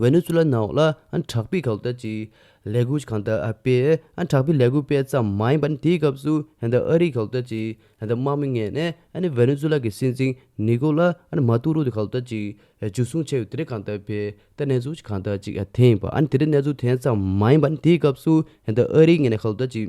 ཝེ་ནེ་ཛུ་ལཱ་ནང་ལ་དྲག་པའི་འགག་རྩ་གཅིག་ལས་འགུལ་གང་དག་སྤེལ། དྲག་པའི་ལས་འགུལ་སྤེལ་ཙམ་མ་ཡིན་པར་དེའི་སྐབས་སུ་ཨ་རིའི་འགག་རྩ་གཅིག་དམག་མི་ངེད་ནས་ཝེ་ནེ་ཛུ་ལཱ་གི་སྲིད་འཛིན་ནི་གོ་ལ་མ་ཏུ་རོ་དེ་འགག་རྩ་གཅིག་འཇུ་བཟུང་བྱས་པའི་དེ་རིང་གང་དག་སྤེལ་ད་གནས་ཚུལ་གང་དག་ཅིག་དེ་ཡིན་པ་ཨ་རིའི་གནས་ཚུལ་དེ་ཙམ་མ་ཡིན་པར་དེའི་སྐབས་སུ་ཨ་རིའི་ངེད་ནས་འགག་རྩ་གཅིག།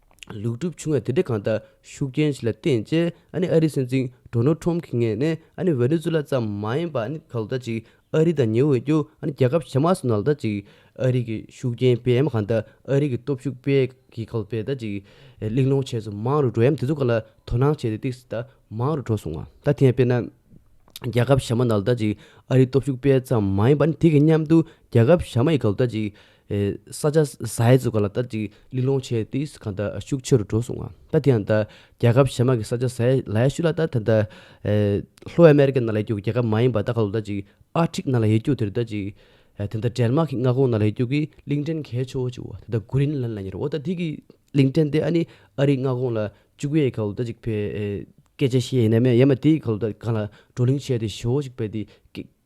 ལུག་གྲུབ་ཆུང་བའི་དེ་འབྲེལ་གང་ལྟར་ཤུགས་རྐྱེན་ཞིག་ལ་བརྟེན་རྗེས་ཨ་རིའི་སྲིད་འཛིན་གྲོ་ནོ་ཁྲོམ་གྱི་ངས་ནི་ཝེ་ནེ་ཛུ་ལ་ཙམ་མ་ཡིན་པར་གང་ལྟར་ཅིག་ཨ་རི་དང་ཉེ་འོད་ཀྱི་རྒྱལ་ཁབ་ཕྱི་མ་སོགས་ནང་ལྟར་ཅིག་ཨ་རིག་གི་ཤུགས་རྐྱེན་སྤེལ་ཡའམ་གང་ལྟར་ཨ་རིག་གི་སྟོབས་ཤུགས་སྤེལ་གྱི་གང་ལྟར་ཅིག་གླེང་སློང་བྱས་ཚུལ་མང་རུ་འགྲོ་ཡའམ་དེ་ཚོ་གང་ལ་དོ་སྣང་བྱས་ཏེ་ཏིག་ཏག་མང་རུ་འགྲོ་སོང་བ་ད་ཐེངས་དཔེར་ན་རྒྱལ་ཁབ་ཕྱི་མ་ནང་ལྟར་ཅིག་ཨ་རིའི་སྟོབས་ཤུགས་སྤེལ་ཙམ་མ་ཡིན་པར་དེ་གཉིས་མཉམ་དུ་རྒྱལ་ཁབ་ཕྱི་མ་ཡི་གང་ལྟར་ཅིག་ས་ཆ་ཟའི་ཚོ་ག་ལ་ལྟར་ཅིག་གླིང་སློང་བྱས་ཏེ་གང་ལྟར་ཤུགས་ཆེ་རུ་འགྲོ་སོང་ང་ད་དེ་ཡང་ད་རྒྱལ་ཁབ་གཞན་མ་གི་ས་ཆ་ཟའི་ལ་ཡ་ཤུ་ལ་ལྟར་ད་ལྟ་ལྷོ་ཨ་མེ་རི་ཀ་ན་ལ་ཡ་རྒྱུག་རྒྱལ་ཁབ་མ་ཡིན་པ་ད་ག་ལོ་ལྟར་ཅིག་ཨ་ཕྲིག་ན་ལ་ཡ་རྒྱུག་དེ་རུ་ལྟར་ཅིག་དེ་ལྟར་འབྲལ་མ་གི་མངའ་ཁོངས་ན་ལ་ཡ་རྒྱུག་གི་གླིང་ཕྲན་གས་ཆོ་བོ་ཅིག་བོ་ད་ལྟ་གུ་རིན་ལན་ལ་ཉེར་བོ་ད་དེ་གི་གླིང་ཕྲན་དེ་ཨ་ནི་ཨ་རིའི་མངའ་ཁོངས་ལ་བཅུག་ཡས་ག་ལོ་ལྟར་ཅིག་བེ་སྐད་ཆ་བཤད་ཡས་ན་མས་ཡ་མ་དེ་ག་ལོ་ལྟར་གང་ལ་བགྲོ་གླིང་བྱས་ཏེ་ཞོ་བོ་ཅིག་བེ་དེ་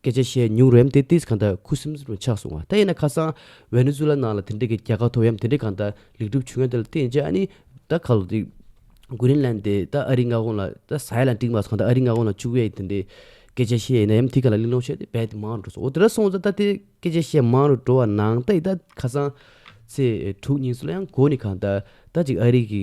སྐད་ཆ་བཤད་མྱུང་རེམ་དེ་ཏིས་གང་ད་ཁུ་སིམ་སིམ་རུ་ཆགས་སོང་བ་ད་ཡིན་ན་ཁ་སང་ཝེ་ནེ་ཛུ་ལ་ནང་ལ་དེ་འདྲེ་གི་རྒྱལ་ཁ་ཐོབ་ཡམ་དེ་འདྲེ་གང་ད་ལེགས་གྲུབ་བྱུང་ཡ་དེ་ལ་བསྟན་བྱ་ཨ་ནི་ད་ག་ལོ་དེ་གུ་རིན་ལན་དེ་ད་ཨ་རི་མངའ་ཁོངས་ལ་ད་ས་ཡ་ལ་འགྲིག་མ་སོང་ད་ཨ་རི་མངའ་ཁོངས་ལ་བཅུག་ཡ་ཡི་དེ་འདྲེ་སྐད་ཆ་བཤད་ཡི་ན་ཡམ་དེ་ག་ལ་གླིང་ལོང་བྱས་དེ་བད་དེ་མང་འགྲོ་སོང་འོ་དེ་ར་སོང་ཙ་ད་དེ་སྐད་ཆ་བཤད་མང་རུ་འགྲོ་བ་ནང་ད་ཡི་ད་ཁ་སང་ཚེས་དྲུག་ཉིན་སུ་ལ་ཡང་གོ་ནི་གང་ད་ད་ཅིག་ཨ་རི་གི།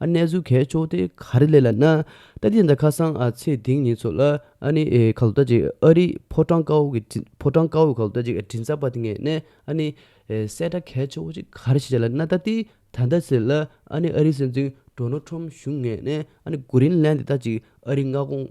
གནས་ཚུལ་གས་ཕྱོགས་དེ་ག་རེ་ལས་ལ་ན་ཏཱ་དེ་འདྲ་ཁ་སང་ཚེ་ཐིང་ཉིན་ཚོ་ལ་ཨ་ནི་ཁ་ལོ་ད་ཅིག་ཨ་རིའི་ཕོ་བྲང་དཀར་བོ་གི་ཕོ་བྲང་དཀར་བོའི་ཁ་ལོ་ད་ཅིག་དྲིན་གསར་པ་དེ་ངས་ནས་ཨ་ནི་གསལ་བསྒྲགས་གས་ཕྱོགས་ཅིག་ག་རེ་བྱས་བྱས་ལ་ན་ཏཱ་དེ་ད་ལྟ་ཟེར་ལ་ཨ་ནི་ཨ་རིའི་སྲིད་འཛིན Donald Trump བཞུགས་ངས་ནས་ཨ་ནི་གུ་རིན་ལན་དེ་ད་ཅིག་ཨ་རིའི་མངའ་ཁོངས།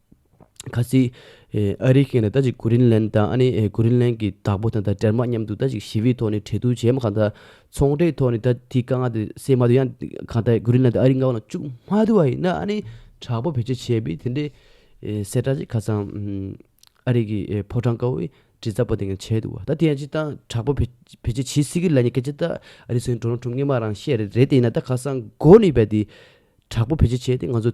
ཁ་ཟི། ཨ་རིའི་མཁན་ལ་ལྟ་ཅིག་གྷུ་རིན་ལན་དང་ཨ་ནི་གྷུ་རིན་ལན་གྱི་བདག་པོ་དང་ད་དྲེར་མ་མཉམ་དུ་ལྟ་ཅིག་ཞི་བའི་ཐོག་ནས་འཕྲལ་བསྡུར་བྱས་མ་གང་ད་ཚོང་འབྲེལ་ཐོག་ནས་ད་དེའི་དཀའ་ངལ་དེ་སེལ་མ་དུས་ཡང་གང་ད་གྷུ་རིན་ལན་དང་ཨ་རིའི་མངའ་བ་ལ་ཅུག་མ་དུ་བ་ཡིན་ན་ཨ་ནི་དྲག་པོ་བེད་སྤྱོད་བྱས་པས་དེ་འདྲའི་གསལ་བསྒྲགས་ཅིག་ཁ་སང་ཨ་རིག་གི་ཕོ་བྲང་དཀར་བོའི་དྲི་ཟ་པོ་དེ་ངས་བྱས་འདུག་བ་ད་དེ་ཡང་ཅིག་ད་དྲག་པོ་བེད་སྤྱོད་བྱེད་སྲིད་ཀི་ལ་ཉེ་སྐད་ཅིག་ད་ཨ་རིའི་སོན་གྲོ་ནོ་ཁྲུམ་ངེས་མ་རང་བཤད་རེད་དེ་ཡིན་ན་ད་ཁ་སང་གྷོ་ནི་བས་དེ་དྲག་པོ་བེད་སྤྱོད་བྱས་ཏེ་ང་ཚོ།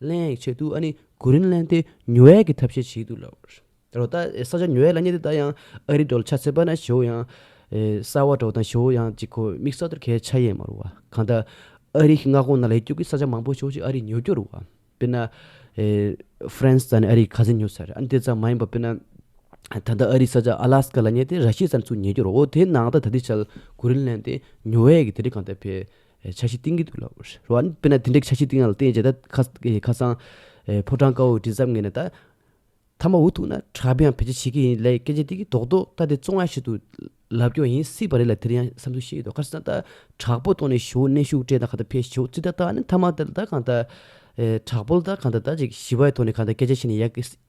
གླེང་ཡིག་ཆེད་དུ་ཨ་ནི་གོ་རིན་གླེང་སྟེ་ཉུལ་བས་ཀྱི་ཐབས་ཤེས་བྱས་འདུག་ལ། རོ་ད་ས་ཆ་ཉུལ་བས་ལ་ཉེ་དེ་ད་ཡང་ཨ་རི་འགྲོ་ལ་ཆ་ཚེ་པ་ན་ཞོའུ་ཡང། གསར་བ་འགྲོ་དང་ཞོའུ་ཡང་གཅིག་གོ་མིག་ས་ཐོར་གས་ཆ་ཡས་མ་རུ་བ་གང་ལྟར། ཨ་རི་གི་མངའ་ཁོངས་ན་ལས་སྐྱོབ་ཀྱི་ས་ཆ་མང་པོ་ཞོག་ཅིག་ཨ་རི་ཉུལ་རྒྱུ་རུ་བ། དཔེར་ན། ཧྥེན་ས་ནས་ཨ་རི་ག་ཚེ་ཉུལ་ས་རེད་ཨ་ནི་དེ་ཙམ་མ་ཡིན་པ་དཔེར་ན། ད་ལྟ་ཨ་རི་ས་ཆ་ཨ་ལ་སི་ཀ་ལ་ཉེ་སྟེ་ར་ཤི་ས་ནས་ཚུར་ཉལ་རྒྱུ་རུ་བ་དེ་ནང་ལྟ་ད་ལྟའི་ཆར་གོ་རིན་གླེང་སྟེ་ཉུལ་བས་ཀྱི་དེ་རིང་གང་ལྟར་ཕེབས། ཆ་ཤས་གཏིང་གི་དུག་ལ་འོ་རེད། རོ། དཔེར་ན་དེ་འདྲའི་ཆ་ཤས་གཏིང་ཡང་ལ་བརྟེན་བྱས་ད། ཁ་སང། ཕོ་བྲང་དཀར་བོའི་མགྲིན་ཚབ་ངེས་ན་ད། ཐ་མ་འུ་ཐུག་ན་གྲྭ་པས་ཡང་བེད་སྤྱད་བྱེད་ཀྱི་ཡིན་ལས་སྐད་ཆ་འདི་གི་རྡོག་རྡོག་ལྟ་དེ་བཙོང་ཡ་ཞིག་ཏུ། ལབ་སྐྱོང་ཡིན་སྲིད་པ་རེད་ལ་དེར་ཡང་བསམ་ཚུལ་བཤད་ཡོད་དོ་ཁ་སང་ད། དྲག་པོ་གཏོང་ནས་ཞོའུ་གནས་ཤུགས་སྤྲད་ད་ག་ད་ཕེ་ཞོའུ་རྩིས་ད་ད་ནི་ཐ་མ་ད་གང་ད། དྲག་པོ་ལ་ད་གང་ད་ད་ཅིག་ཞི་བའི་ཐོག་ནས་གང་ད་སྐད་ཆ་བཤད་ནས་ཡག་གི་སྲིད།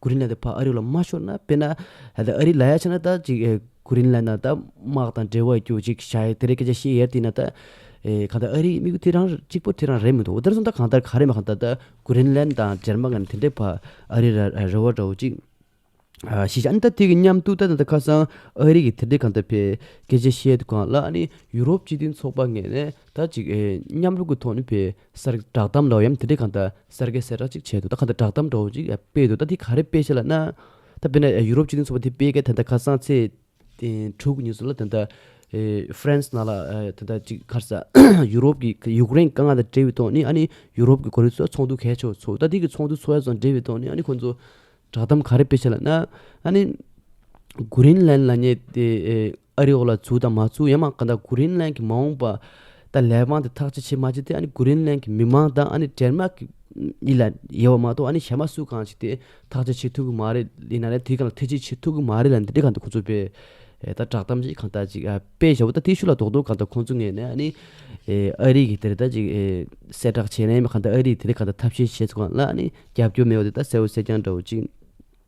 ཀུ་རེ་ལན་དེ་ཕ་ཨ་རི་ལ་མ་ཤོར་ན་དཔེར་ན་ཨ་རི་ལ་ཡ་ཆ་ན་ད་ཅིག་ཀུ་རེ་ལན་ན་ད་དམག་དང་འབྲེལ་བ་རྒྱུ་ཅིག་བྱ་ཡི་དེ་རིང་སྐད་ཆ་བཤད་ཡས་དེ་ན་ད་གང་ལྟར་ཨ་རིའི་དམིགས་ཡུལ་དེ་རང་གཅིག་པོ་དེ་རང་རེད་མི་འདུག་འདིར་བཟུང་ད་གང་ལྟར་ག་རེ་མ་གང་ལྟར་ད་ཀུ་རེ་ལན་དང་འབྲེལ་མ་གང་དེ་འདྲའི་ཕ་ཨ་རི་ལ་རེ་བ་འདྲ་བོ་ཅིག་ཤེས་བྱ་ཨ་ནི་ད་དེ་གི་མཉམ་དུ་ད་ཁ་སང་ཨ་རི་གི་དེ་འདྲའི་གང་ལྟར་བའི་སྐད་ཆ་བཤད་འདུག་གང་ལ་ཨ་ནི་ཡུ་རོབ་སྤྱི་མཐུན་ཚོགས་པ་ངེས་ནས་ད་ཅིག་མཉམ་རུབ་ཀྱི་ཐོག་ནས་བའི། སར་གྱི་བསྒྲགས་གཏམ་ལོག་གཡམ་དེ་འདྲས་གང་ད་སར་གྱི་གསལ་བསྒྲགས་གཅིག་བྱས་འདུག་ད་གང་ད་བསྒྲགས་གཏམ་འདྲ་བོ་གཅིག་སྤེལ་འདུག་ད་དེ་ག་རེ་སྤེལ་བྱས་ལ་ན། ད་དཔེར་ན་ཡུ་རོབ་སྤྱི་མཐུན་ཚོགས་པ་དེ་སྤེལ་སྐད་དེ་ད་ཁ་སང་ཚེས་དྲུག་ཉིན་སུ་ལ་དེ་ད France ནང་ལ་དེ་ད་གཅིག་ཁར་ས་ཡུ་རོབ་ཀྱི་ཡུཀ་རེན་དཀའ་ངལ་དང་འབྲེལ་བའི་ཐོག་ནས་ཨ་ནི་ཡུ་རོབ་ཀྱི་གོ་རིམ་སོགས་ཚོགས་འདུ་གས་ཆོག་ཆོག་ད་དེ་གི་ཚོགས་འདུ་ཚོགས་ཡ་སོགས་འབྲེལ་བའི་ཐོག་ནས་ཨ་ནི་ཁོང་ཚོ་བསྒྲགས་གཏམ་ག་རེ་སྤེལ་བྱས་ལ་ན། ཨ་ནི Greenland ལ་ཉེ་དེ། ཨ་རི་འོག་ལ་བཙུགས་དང་མ་བཙུགས་ཡང་མ་ག་ད་གུ་རིན་ལན་གྱི་མ་འོངས་པ་ད་ལས་དབང་དེ་ཐག་ཅི་བྱེད་མ་བྱེད་དེ་ཨ་ནི་གུ་རིན་ལན་གྱི་མི་དམངས་དང་ཨ་ནི་འབྲལ་མ་གི་གཉིས་ལ་ཡོད་པ་མ་གཏོགས་ཨ་ནི་གཞན་པ་སུ་གང་བྱེད་དེ་ཐག་ཅི་བྱེད་ཐུག་གི་མ་རེད་ཡིན་ན་ལས་དེ་གང་ལ་ཐེ་ཇི་བྱེད་ཐུག་གི་མ་རེད་ལ་འདི་འདྲི་ག་འདུག་ཁོ་ཚོ་པས་ད་བསྒྲགས་གཏམ་ཅིག་གང་ལྟར་ཅིག་དཔེ་ཞོ་བོ་ད་ཐེ་ཤུ་ལ་རྡོག་རྡོག་ག་ད་ཁོང་ཚོ་ངས་ནས་ཨ་ནི་ཨ་རི་གི་དེ་རེ་ད་ཅིག་གསལ་བསྒྲགས་བྱས་ནས་ཡིན་པ་ག་ད་ཨ་རི་ཡི་དེ་རེ་ག་ད་ཐབས་ཤེས་བྱེད་ཚུ་གང་ལ་ཨ་ནི་རྒྱབ་སྐྱོར་མེད་བ་དེ་ད་གསལ་བོ་གསལ་རྐྱང་འདྲ་བོ་ཅིག།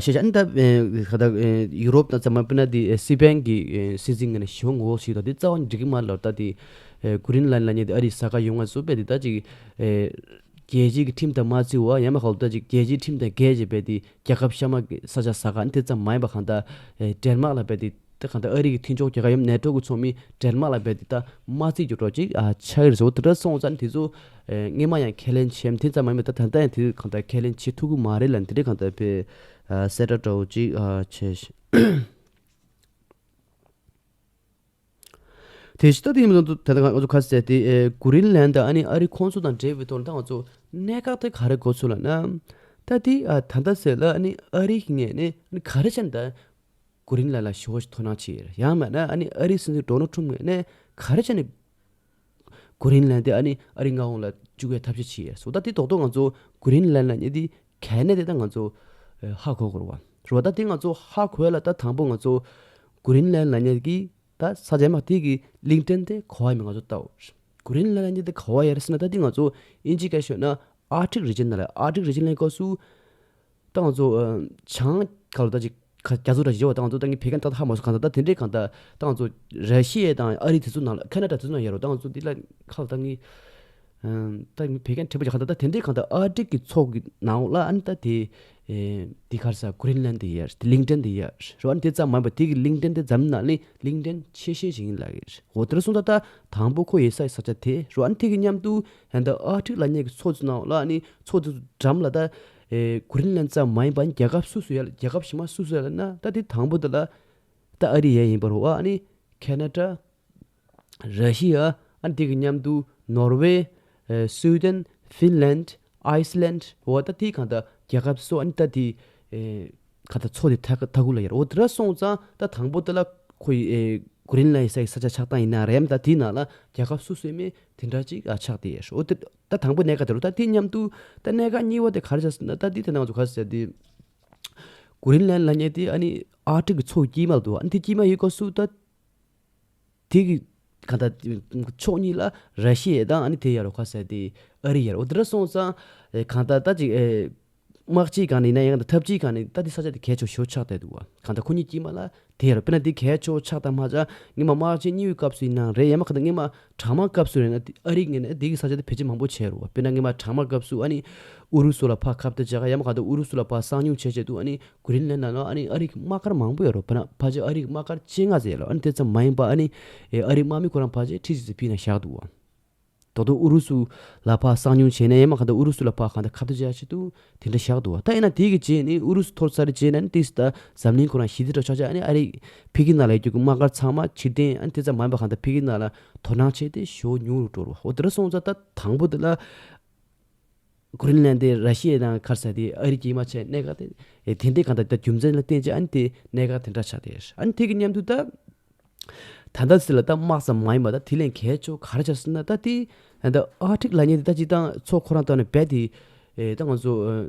ཤེས་བྱ་ནི་ད་ག་ད་ཡུ་རོབ་དང་ཙམ་མ་སྤེལ་ན་དེ་སི་པན་གྱི་སྲིད་འཛིན་ངན་ན་ཞི་བ་ངོ་བོ་ཞིག་དང་དེ་རྩ་བ་ཉིད་འགྲིག་གི་མ་རེད་ལོ་ད་དེ་ཀུ་རིན་ལན་ལ་ཉེ་དེ་ཨ་རིའི་ས་ག་ཡུལ་ང་ཚོ་པས་དེ་ད་ཅིག་རྒྱལ་སྤྱིའི་གི་ཁྲིམས་དང་མ་བརྩི་བ་ཡང་མ་ཧོ་ད་ཅིག་རྒྱལ་སྤྱིའི་ཁྲིམས་དང་འགལ་བྱས་པས་དེ་རྒྱལ་ཁབ་ཤ་མ་ས་ཆ་ས་ག་ནི་དེ་ཙམ་མ་ཡིན་པ་གང་ད་འདྲེར་དམག་ལ་བས་དེ། དེ་གང་ལྟར་ཨ་རི་གི་མཐུན་ཕྱོགས་རྒྱལ་ཁབ་ཡུམ་ནེ་ཏྲོ་གི་ཚོགས་མི་འབྲེལ་མ་ལ་བས་དེ་དག་མ་རྩིས་ཀྱི་རོ་གཅིག་ཆགས་ཀྱི་རེད་ཟེར་བ་དེ་འདྲ་སོང་ཙང་དེ་ཚོ་སྔས་མ་ཡང་ཁས་ལེན་བྱས་མིན་དེ་ཙམ་མ་ཡིན་པ་ད་ལྟ་ཡང་དེ་ཚོས་གང་ལྟར་ཁས་ལེན་བྱེད་ཐུབ་ཀྱི་མ་རེད་ལ་འདི་འདྲས་གང་ལྟར་བེད་གསལ་དྲ་གྲོགས་གཅིག་བྱས། དེ་ཕྱི་ཟླ་དེའི་ནང་དུ་ད་ལྟ་ང་ཚོ་ཁ་གསལ་ཏེ་གུ་རིན་ལན་དང་ཨ་ནི་ཨ་རི་ཁོང་ཚོ་དང་འབྲེལ་བའི་ཐོག་ལ་ད་ང་ཚོ་གནད་འགག་དེ་ག་རེ་གོ་ཚོད་ལ་ན་ད་དེ་ད་ལྟ་ཟེར་ལ་ཨ་ནི་ཨ་རི་ངས་ནི་ག་རེ་བྱས་ན་ད། ཀུ་རིན་ལ་ལ་ཤོ་ཤོ་ཐོ་ནང་ཆིར་ཡང་མ་ན་ཨ་ནི་ཨ་རིའི་སིན་ཟུར་འགྲོ་ནོ་ཁྲུམ་ངེ་ནས་ག་རེ་བྱ་ནི། ཀུ་རིན་ལན་དེ་ཨ་ནི་ཨ་རི་ང་ཧོང་ལ་བཅུག་པའི་ཐབས་ཤེས་ཆིར་སོ་ད་དེ་ཏོག་ཏོག་ང་ཚོ་ཀུ་རིན་ལན་ལ་ཉེ་དེ་གལ་གནད་དེ་ད་ང་ཚོ་ཧ་གོ་དགོས་རོ་བ་ད་དེ་ང་ཚོ་ཧ་གོས་ལ་ད་དང་པོ་ང་ཚོ་ཀུ་རིན་ལན་ལ་ཉེ་གི་ད་ས་ཆ་མ་དེ་གི་གླིང་ཕྲན་དེ་གོ་བ་མི་ང་ཚོ་ལྟ་བུ་ཀུ་རིན་ལན་ལ་ཉེ་དེ་གོ་བ་ཡར་སི་ན་ད་དེ་ང་ཚོ་ཨིན་ཇི་ག་ཤོད་ན་ཨར་ཏིག་རི་ཇན་ན་ལ་ཨར་ཏིག་རི་ཇན་ལན་ཀོ་སུ་ཏང་ཙུའུ། བྱང། ག་ལོ་ད་ཅིག། རྒྱ་མཚོ་ར་བྱིའུ་ཏང་ཙུའུ་ཏང་གི་བེ་ཀན་ཏག་ཏག་ཧ་མ་སུ་གང་ད་ད་དེ་འདྲའི་གང་ད། ཏང་ཙུའུ། ར་ཤི་ཡའི་ཏང་ཨ་རི་དེ་ཚོ་ནང་ལ་ཁ་ན་ད་དེ་ཚོ་ནང་ཡ་རོ་ཏང་ཙུའུ་དེ་ལ་ཁ་ལོ་ད་ངི། ཏང་གི་བེ་ཀན་ཁྲི་པ་ཅིག་གང་ད་ད་དེ་འདྲའི་གང་ད་ཨ་ཀྲིག་གི་ཚོགས་ཀི་ནང་ལ་ཨན་ད་དེ། དེ་གར་ས་ཀུ་རིན་ལན་དེ་ཡ་ཏི་ལིང་ཏན་དེ་ཡ་རོ་ཨན་དེ་ཙམ་མ་ཡིན་པ་དེ་གི་ལིང་ཏན་དེ་འཛམ་གླིང་ནང་ལི་ལིང་ཏན་ཆེ་ཤེས་ཤིག་ཡིན་ལ་ཡ་རོ་དེ་ལ་སོང་ད་ད་དང་པོ་ཁོ་ཡེ་སའི་ས་ཆ་དེ་རོ་ཨན་དེ་གི་མཉམ་དུ་ཨན་ད་ཨ་ཀྲིག་ལ་ཉེ་གི་ཚོགས་ཚུ་ནང་ལ་ཨ་ནི་ཚོགས་དེ་ཚོ་འགྲམ་ལ་ད། གོ་རིམ་ལན་ཙམ་མ་ཡིན་པར་རྒྱལ་ཁབ་སུ་སུ་ཡ་ལ་རྒྱལ་ཁབ་ཕྱི་མ་སུ་སུ་ཡ་ལ་ན་ད་དེ་དང་པོ་དེ་ལ་ད་ཨ་རི་ཡ་ཡིན་པར་བ་ནི་ཁེ་ན་ཏྲ། ར་ཤི་ཡ། དེ་གི་མཉམ་དུ་ནོར་ཝེ། སུའུ་ཏན། ཧྥིན་ལན། ཨའི་སི་ལན། བ་ད་དེ་གང་ད་རྒྱལ་ཁབ་སོ་ཨ་ནི་ད་དེ། ག་ད་ཚོ་དེ་ཐ་གུ་ལ་ཡ་ར་བོ་དེ་ར་སོང་ཙང་ད་དང་པོ་དེ་ལ་ཁོ་ཡི་གོ་རིམ་ལན་ས་ཡི་ས་ཆ་ཆགས་སྟངས་ཡིན་ན་ར་ཡ་མ་ད་དེ་ན་ལ་རྒྱལ་ཁབ་སུ་སུ་ཡ་མེད་དེ་འདྲ་ཅིག་ཆགས་དེ་ཡས་ཧྲོ་དེ། ད་དང་པོ་གནད་ཀ་དེ་རུ་ལྟ་དེ་མཉམ་དུ། ད་གནད་ཀ་གཉིས་བ་དེ་ག་རེ་བྱ། ད་དེ་དེ་ནང་ཚུ་ག་རེ་བྱ་དེ། གོ་རིམ་ལན་ལ་ཉེ་དེ་ཨ་ནི་ཨ་ཀྲིག་གི་ཚོགས་དཀྱིལ་མ་དུ་ཨ་ནི་དེ་དཀྱིལ་མ་ཡི་སྐོར་སུ་ད། དེ་གི་ག་ད་ཕྱོགས་གཉིས་ལ་ར་ཤི་ཡའི་དང་ཨ་ནི་དེ་ཡར་རོ་ག་བྱ་དེ། ཨ་རི་ཡར་རོ་དེ་འདྲ་སོང་ཙང། གང་ད་ད་ཅིག་ཨེ། དམག་སྤྱི་གང་ནས་ཡིན་ན་ཡང་དང་ཐབས་སྤྱི་གང་ནས་ད་འདི་ས་ཆ་འདི་གས་ཆོག་ཞོ་ཆགས་བསྡད་འདུག་ག་གང་ལྟར་ཁོ་གཉིས་ཀྱིས་མ་ལ་དེ་རེད་དཔེར་ན་འདི་གས་ཆོག་ཆགས་དང་མ་ཆགས་ངེད་མ་དམག་སྤྱི་གཉིས་པོའི་སྐབས་སུ་ཡིན་ནའང་རེད་ཡང་མ་གང་ལྟར་ངེད་མ་གྲང་དམག་སྐབས་སུ་རེད་ན་འདི་ཨ་རིས་ངེད་ནས་འདི་གི་ས་ཆ་འདི་བེད་སྤྱད་མང་པོ་བྱས་རུང་བ་དཔེར་ན་ངེད་མ་གྲང་དམག་སྐབས་སུ་ཨ་ནི་ཨུ་རུ་སུ་ལ་ཕག་ཁབ་སྟེར་བྱས་ཁ་ཡང་མ་གང་ལྟར་ཨུ་རུ་སུ་ལ་ཕག་སྲང་ཉུང་བྱས་བྱས་འདུག་ཨ་ནི་གུ་རིན་ལན་ན་ནང་ཨ་ནི་ཨ་རིག་དམག་སྒར་མང་པོ་ཡོད་རུང་བས་ན་ཕ་ཆེ་ཨ་རིག་དམག་སྒར་སྤྱན་སྔ་ཟེར་ཡོད་ལ་ཨ་ནི་དེ་ཙམ་མ་ཡིན་པར་ཨ་ནི་ཨ་རིག་དམག་མི་ཁོ་རང་ཕ་ཆེ་ཁྲི་ཟིག་ཟིག་ཕིང་ན་བཞག་འདུག་བ། ད་དུང་ཨུ་རུ་སུ་ལ་ཕག་གསང་ཉུང་བྱས་ན་ཡང་མ་ག་ད་ཨུ་རུ་སུ་ལ་ཕག་གང་ད་ཁ་ད་ཅག་ཅིག་འདུག་དེ་འདྲ་བཞག་འདུག་བ་ད་ཡིན་ན་དེ་གི་རྗེས་ནི་ཨུ་རུ་སུ་ཐོར་ཚར་རྗེས་ན་ནི་དེ་སི་ད་འཛམ་གླིང་ཁོ་རང་ཞི་བདེ་དྲག་ཆག་ཆག་ཨ་རིག་ཕི་གི་ནང་ལ་ཡོད་རྒྱུ་གི་དམག་སྒར་ཚང་མ་ཕྱིར་འཐེན་ཨ་ནི་དེ་ཙམ་མ་ཡིན་པ་གང་ད་ཕི་གི་ནང་ལ་དོ་སྣང་བྱས་ཏེ་ཞོ་ཉུང་རུ་འགྲོ་རུ་བ་འོ་དེ་འདྲ་སོང་ཚར་ད་དང་པོ་དེ་ལ། ཀུ་རིན་ལན་དེ་ར་ཤི་ཡའི་ནང་ཁར་ས་དེ་ཨ་རི་གྱིས་མ་བྱས་གནད་འགག་དེ་དེ་འདྲའི་གང་ལྟར་ད་རྒྱུ་མཚན་ལ་བརྟེན་ཅི་ཨ་ནི་དེ་གནད་འགག་དེ་འདྲ་ཆགས་ཏེ་ཨ་ཐེ་གི་མཉམ་དུ་ད་ད་ད་སི་ལ་ད་དམག་ཙམ་མ་ཡིན་པ་ད་དེ་ལས་གལ་ཆོ་ག་ར་ཆགས་སོང་ན་ད་དེ་ཨ་ཐེག་ལ་ཉེ་དེ་ད་ཅི་ད་ཚོ་ཁོ་རང་ཏོག་ནས་བས་དེ་ད་ང་ཚོ།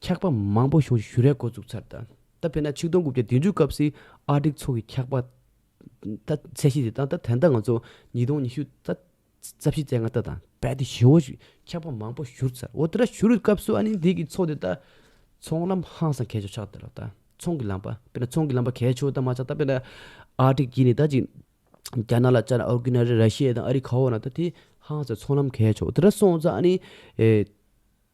འཁྱགས་པ་མང་པོ་བྱུང་རྗེས་བཞུར་རའི་འགོ་བཙུགས་ཚར། ད་དཔེར་ན་ཆིག་སྟོང་དགུ་བརྒྱ་བདུན་ཅུ་སྐབས་སི་ཨར་སྒྲིག་ཚོགས་ཀྱིས་འཁྱགས་པ་ད་ཚད་གཞི་དེ་དང་ད་ཐེངས་ད་ང་ཚོ་ཉིས་སྟོང་ཉི་ཤུ་ད་རྩ་བཞི་རྩེ་ལྔ་ད་དང་རྦད་དེ་བཞི་བོ་འཁྱགས་པ་མང་པོ་བཞུར་ཚར་འོ་དེ་འདྲ་བཞུར་སྐབས་སུ་ཨ་ནི་འདི་གི་ཚོགས་དེ་ད་ཚོང་ལམ་ཧང་སང་གས་ཆོག་ཆགས་དེ་ལ་ད་ཚོང་གི་ལམ་པ་དཔེར་ན་ཚོང་གི་ལམ་པ་གས་ཆོག་ད་མ་ཆགས་ད་དཔེར་ན་ཨར་སྒྲིག་གིས་ནི་ད་ཅིག་རྒྱ་ནག་ལ་བཅར་ཨོར་གི་ན་རེ་ར་ཤི་ཡའི་དང་ཨ་རི་ཁ་བོ་ན་ད་དེ་ཧང་སང་ཚོང་ལམ་གས་ཆོག་དེ་འདྲ་སོང་ཙང་ཨ་ནི།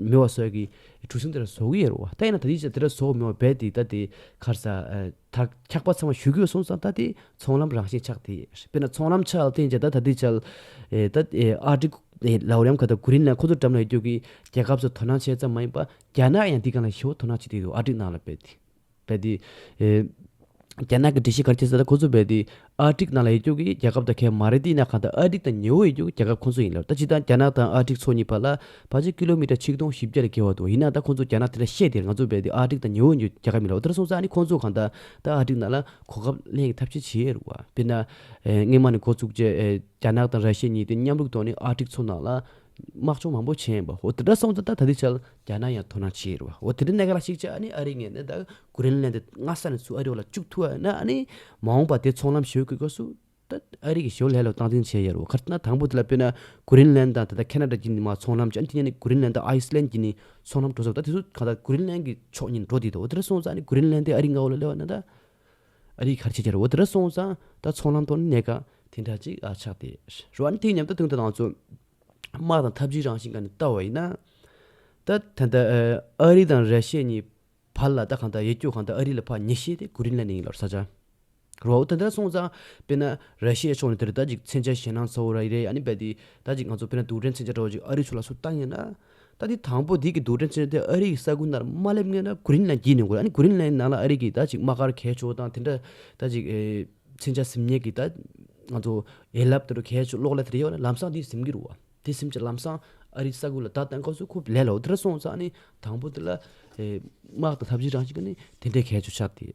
མེ་བ་སོགས་ཀྱིས་གྲུ་གཟིངས་དེ་ལ་ཟོག་གི་ཡོད་རེད་བ། ད་ཡིན་ན་ད་ནི་ཅི་ཟེར་དེ་ལ་ཟོག་མེ་བ་རྦད་དེ་ད་དེ་ཁར་ས་དར་འཁྱག་པ་ཚང་མ་བཞུ་གུས་སོང་ཙང་ད་དེ་ཚོང་ལམ་རང་བཞིན་ཆགས་དེ་དཔེར་ན་ཚོང་ལམ་ཆགས་ཐེངས་བཅས་ད་ད་དེ་ཆགས། ད་ཨ་ཀྲི་ལའོ་རེམ་ཁ་ད་གུ་རིན་ལ་ཁོ་ཚོ་འགྲམ་ལ་ཡོད་རྒྱུ་གི་རྒྱལ་ཁབ་ཚོ་དོ་སྣང་བྱས་ཙམ་མ་ཡིན་པ་རྒྱ་ནག་ཡང་དེ་གང་ལ་ཞེ་བོ་དོ་སྣང་བྱེད་དེ་ཡོད་རེད་ཨ་ཀྲི་ནང་ལ་རྦད་དེ། རྦད་དེ། རྒྱ་ནག་གི་འདྲི་གཞི་གར་སྐྱེལ་ས་དང་ཁོ་ཚོ་རྦད་དེ། ཨ་ཀྲིག་ནང་ལ་ཡེ་རྒྱོ་གིས་རྒྱ་ཁབ་དང་ཁལ་མ་རེད་འདི་ནག་གང་དང་ཨ་ཀྲིག་དང་ཉེ་བོ་ཡེ་རྒྱོ་གི་རྒྱ་ཁབ་ཁོ་ཚོ་ཡིན་ལབ་ད་ཅི་ད་རྒྱ་ནག་དང་ཨ་ཀྲིག་ཚོ་གཉིས་བར་ལ་བར་ཆད་ཀི་ལོ་མི་ཏྲ་ཆིག་སྟོང་བཞི་བརྒྱ་ལས་བརྒལ་བ་འདུག་ཡིན་ནང་ད་ཁོ་ཚོ་རྒྱ་ནག་དེ་འདྲ་བཤད་དེ་ང་ཚོ་རྦད་དེ་ཨ་ཀྲིག་དང་ཉེ་བོ་ཡེ་རྒྱོ་གི་རྒྱ་ཁབ་མིན་ལབ་ཨོ་ད་ར་སོང་ཙང་ནི་ཁོ་ཚོ་གང་ད་ད་ཨ་ཀྲིག་ནང་ལ་གོ་སྐབས་ལེན་གི་ཐབས་ཆེ་བྱེད་རུ་བ་དཔེར་ན། སྔན་མ་ནས་འགོ་བཙུགས་རྗེས་རྒྱ་ནག་དང་ར་ཤི་ཡེ་གཉིས་དེ་མཉམ་རུག་ཐོག་ནས་ཨ་ཀྲིག་ཚོ་ནང་ལ་དམག་སྦྱོང་མང་པོ་བྱས་ཡིན་པ་འོ་དེ་འདྲ་སོང་ཙང་ད་ད་དེ་ཆ་རྒྱ་ནག་ཡང་དོ་སྣང་བྱེད་ཡོད་རེད་བ་འོ་དེ་འདྲ་གནད་ག་ལ་ཞིག་ཅེ་ཨ་ནི་ཨ་རི་ངས་ནི་ད་ཀུ་རེན་ལན་དེ་སྔ་ས་ནས་ཚུར་ཨ་རི་བ་ལ་བཅུག་ཐུ་ཨ་ན་ཨ་ནི་མ་འོངས་པ་དེ་ཚོང་ལམ་ཞོད་དགོས་ཀ་སུ་ད་ཨ་རི་གི་ཞོར་ལྷད་ལོ་སྟངས་འཛིན་བྱེད་ཡོད་རེད་བ་ཁར་ན་དང་པོ་དེ་ལ་དཔེར་ན་ཀུ་རེན་ལན་དང་ད་ད་ཁེ་ན་རྡ་གྱི་ནི་མ་ཚོང་ལམ་ཅན་དེ་ནས་ནི་ཀུ་རེན་ལན་དང་ཨའི་སི་ལན་གྱི་ནི་ཚོང་ལམ་འགྲོ་ས་རེད་ད་དེ་ཚོ་གང་ད་ཀུ་རེན་ལན་གྱི་ཕྱོགས་ཉིད་འགྲོ་དེ་ད་འོ་དེ་འདྲ་སོང་ཙང་ཨ་ནི་ཀུ་རེན་ལན་དེ་ཨ་རིའི་ངའོ་ལ་སླེ་བ་ན་ད། ཨ་རིའི་ཁར་ཆེད་བཅར་འོད་དེར་སོང་ཙང་ད་ཚོང་ལམ་ཐོག་ནས་གནད་འགག་དེ་འདྲ་གཅིག་ཆགས་ཏེ། རོ་ཨན་ཐིང་མཉམ་དུ་དོན་དུ་བཏང་ཚུལ། དམག་དང་འཐབ་ཇུས་རང་བཞིན་གང་ནས་བལྟ་བ་ཡིན་ན། ད་ད་ལྟ་ཨ་རི་དང་ར་ཤི་ཡ་གཉིས་བར་ལ་ད་གང་ལྟར་ཡིད་སྐྱོ་གང་ལྟར་ཨ་རི་ལ་ཕ་མྱི་ཤེས་ཏེ་གུ་རིན་ལན་ནི་ཡིན་ལོར་ས་ཆ། རོ་འོད་དེ་འདྲ་སོང་ཙང་དཔེར་ན་ར་ཤི་ཡའི་ཕྱོགས་ནས་དེར་ད་ཅིག་མཚན་ཆ་ཞེ་སྣང་ཚ་བོ་ར་ཡི་རེད་ཡ་ནི་རྦད་དེ་ད་ཅིག་ང་ཚོ་དཔེར་ན་དུག་སྦྲེལ་མཚན་ཆ་འདྲ་བོ་ཅིག་ཨ་རི་ཚོ་ལ་སུ་བཏང་ཡོད་ན། ད་འདི་དང་པོ་འདི་གི་འདུག་འདྲ་ཆེན་དེ་ཨ་རི་གི་ས་ཁུལ་ནར་མ་སླེབས་ངེས་ན་གུ་རིན་ལན་བགྱིས་ནས་དགོས་ཨ་ནི་གུ་རིན་ལན་ནང་ལ་ཨ་རི་གི་ད་ཅིག་དམག་སྒར་གས་ཆོག་དང་དེ་འདྲ་ད་ཅིག་ཚན་ཆ་ཟིམ་ཉེ་གི་ད་ང་ཚོ་ཡན་ལབ་དེ་འདྲ་གས་ཆོག་གློག་ཀླད་དེ་འདྲ་ཡོད་ན་ལམ་སང་འདི་ཟིམ་གི་རུ་བ་དེ་ཟིམ་ཆ་ལམ་སང་ཨ་རི་ས་ཁུལ་ལ་ད་བསྟན་ཁོ་ཚོ་ཁོ་ལས་ལའོ་དེ་འདྲ་སོང་ཙང་ཨ་ནི་དང་པོ་དེ་ལ་དམག་དང་ཐབས་ཇི་རང་ཞིག་གི་ནི་དེ་འདྲས་གས་ཆོག་ཆགས་དེ།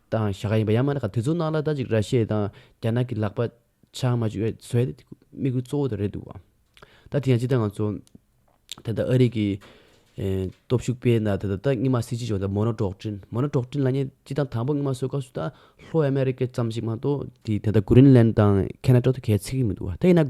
དང་ཞྭ་ཁ་ཡིན་པ་ཡང་མ་ནག་ག་དེ་ཚོ་ནང་ལ་ད་ཅིག་ར་ཤེས་དང་རྒྱ་ནག་གི་ལག་པ་ཆང་མ་ཅུ་བས་ཟོས་ཏེ་དམིགས་ཡུལ་གཙོ་བོ་དེ་རེད་འདུག་བ། ད་དེ་ཡང་ཅི་ལྟར་ང་ཚོ་ད་ལྟ་ཨ་རིག་གི་སྟོབས་ཤུགས་སྤེལ་ན་ད་ལྟ་རྙི་མ་སྲིད་སྤྱི་ཆོག་ད་མོ་ན་འབྲོག་བྲིན་མོ་ན་འབྲོག་བྲིན་ལ་ཉེ་སྤྱི་དང་དང་པོ་རྙི་མ་སོད་ཁ་སུ་ད་ལྷོ་ཨ་མེ་རི་ཀ་ཙམ་ཞིག་མ་གཏོགས་དེ་ད་ལྟ་གུ་རིན་ལན་དང་ཁེ་ན་ཀྲོག་ཏུ་གས་ཚིག་གི་མི་འདུག་བ་ད་ཡིན་ན།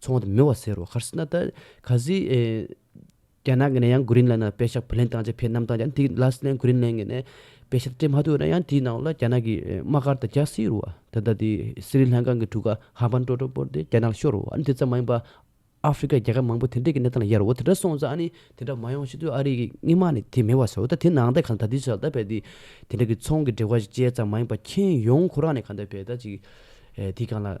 ཚོང་བ་དང་མི་བ་ཟེར་རོ་ཁར་སི་ན་ད། ཁ་ཟི། རྒྱ་ནག་གི་ནས་ཡང Green Land ལ་དཔེ་ཞག་བུ་ལེན་བཏང་རྗེས་ཕེ་ནམ་བཏང་རྗེས་ཡང་དེའི Green Land གི་ནས་དཔེ་ཞག་སྤྲད་མ་ཐུབ་ན་ཡང་དེའི་ནང་ལ་རྒྱ་ནག་གི་དམག་སྒར་དང་རྒྱ་སྲིད་རུ་བ་ད་ལྟ་དེ་སི་རི་ལང་ཀང་གི་གྲུ་ཁ་ཧ་པན་ཀྲོ་ཀྲོ་པོར་དེ་རྒྱ་ནག་ཤོར་རུ་བ་ཨ་ནི་དེ་ཙམ་མ་ཡིན་པ། ཨ་ཧྥི་ཀའི་རྒྱལ་ཁབ་མང་པོ་དེ་འདྲས་ཀྱི་གནས་སྟངས་ལ་ཡལ་རུ་བ་དེ་འདྲ་སོང་ཙང་ཨ་ནི་དེ་འདྲ་མ་ཡོང་ཤེས་དུས་ཨ་རི་གི་དངི་མ་ནི་དེ་མི་བ་ཟེར་རོ་ད་དེ་ནང་ད་གང་ད་དུས་སུ་ད་བལ་དེ་དེ་འདྲ་གི་ཚོང་གི་འབྲེལ་བ་ཞིག་བཅད་ཙང་མ་ཡིན་པ་ཁྱེན་ཡོང་ཁོ་རང་ནས་གང་ད་བལ་ད་ཅིག་དེ་གང་ལ།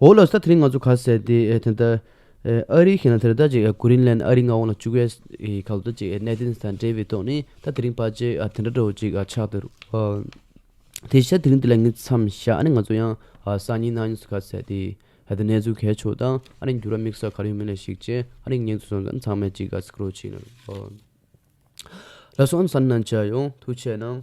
འོ་ལོ་ས་དེ་རིང་ང་ཚོ་ག་ཟེར་ཏེ་དེ་ལྟར་ཨ་རི་ཞིག་ན་དེ་ལྟར་ཅིག་ཀུ་རིན་ལན་ཨ་རི་མངའ་དབང་ལ་བཅུག་བས་ག་ལྟོ་ཅིག་གནད་དོན་དང་འབྲེལ་བའི་ཐོག་ནས་ད་དེ་རིང་བར་ཆད་དེ་འདྲ་འགྲོ་ཅིག་ཆགས་འདུག་དེ་ཤ་དེ་རིང་དེ་ལ་ངས་མཚམས་བཞག་ཨ་ནི་ང་ཚོ་ཡང་སང་ཉིན་གནངས་ཉིན་ག་ཟེར་ཏེ་ད་གནས་ཚུལ་གལ་ཆོག་དང་ཨ་རིའི་འགྱུར་བ་དམིགས་བསལ་ག་རེ་ཡོད་མེད་ལ་གཞིགས་རྗེས་ཨ་རིའི་ངེད་ཚོ་ཚང་མས་ཅིག་ག་ཟེ་ཀུ་རོ་ཅིག་ལ་སོང་ཨ་ནི་ས་ནི་ནང་བཅར་ཡོང་ཐུགས་ཆེ་གནང།